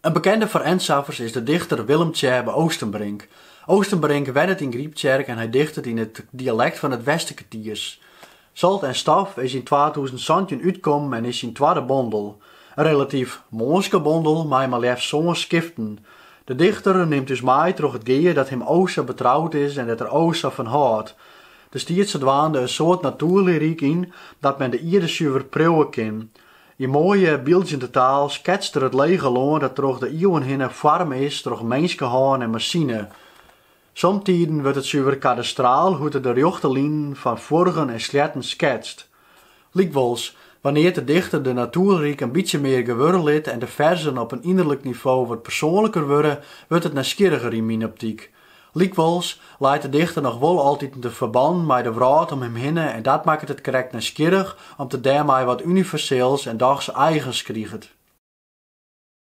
In bekende foar Ensaffers is de dichter Willem Tjebbe Oostenbrink. Oostenbrink wennet yn Gryptsjerk en hy dichtet yn it dialekt fan it Westerkertiers. Zolt en stof is yn twatûzen santjin útkommen en is syn twadde bondel. In relatyf mânske bondel mei mar leafst sân skiften. De dichter nimt ús mei troch it gea dat him o sa betroud is en dêr't er o sa fan hâldt. Der stiet sadwaande in soad natoerlyryk yn dat men de ierde suver priuwe kin. Yn moaie, byldzjende taal sketst er it lege lân dat troch de iuwen hinne foarme is troch minskehân en masine. Somtiden wurdt it suver kadastraal hoe't er de rjochte linen fan fuorgen en sleatten sketst. Lykwols, wannear't de dichter de natoerlyryk in bytsje mear gewurre lit en de ferzen op in ynderlik nivo wat persoanliker wurde, wurdt it nijsgjirriger yn myn optyk. Lykwols, leit de dichter noch wol altiten de ferbannen mei de wrâld om him hinne en dat makket it krekt nijsgjirrich om't it dêrmei wat universeels en dochs eigens kriget.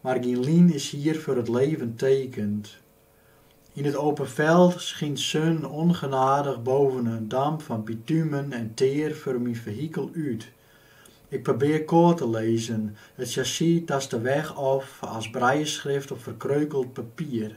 Mar gien lien is hier veur t leven tekend. Ien t open veld schient zun ongenadig boven n damp van bitumen en teer veur mien vehikel uut. Ik probeer koart te lezen, t chassis tast de weg of as brailleschrift op verkreukeld papier.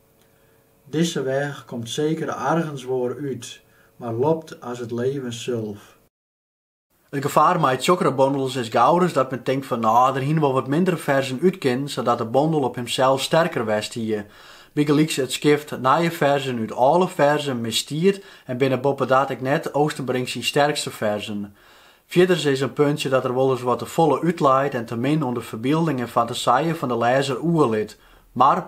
Dizze weg komt zeker argens woar uut, mar lopt as t leven zulf. It gefaar mei tsjokkere bondels is gauris dat men tinkt fan, no, der hiene wol wat mindere ferzen út kinnen, sadat de bondel op himsels sterker west hie. Bygelyks it skift nije ferzen út olle ferzen misstiet en binne boppedat ek net Oostenbrink syn sterkste ferzen. Fierders is in puntsje dat er wolris wat te folle útleit en te min oan de ferbilding en fantasije fan de lêzer oerlit. Mar.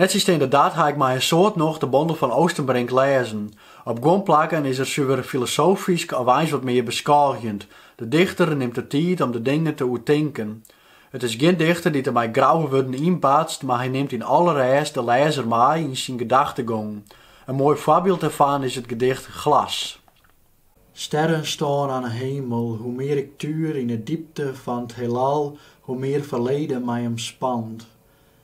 Nettsjinsteande dat ha ik mei in soad nocht de bondel fan Oostenbrink lêzen. Op guon plakken is er suver filosofysk of eins wat mear beskôgjend. De dichter nimt de tiid om de dingen te oertinken. It is gjin dichter dy't der mei grouwe wurden ynbatst, mar hy nimt yn alle rêst de lêzer mei yn syn gedachtegong. In moai foarbyld dêrfan is it gedicht Glas. Sterren stoan aan 'e hemel, hoe meer ik tuur ien 'e diepte van 't heelal, hoe meer verleden mij omspant.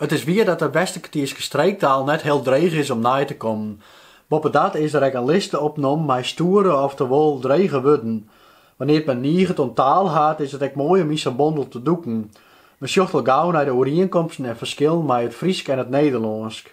It is wier dat de Westerkertierske streektaal net hiel dreech is om nei te kommen. Boppedat is der ek in liste opnommen mei stoere oftewol drege wurden. Wannear't men niget oan taal hat, is it ek moai om yn sa'n bondel te dûken. Men sjocht al gau nei de oerienkomsten en ferskillen mei it Frysk en it Nederlânsk.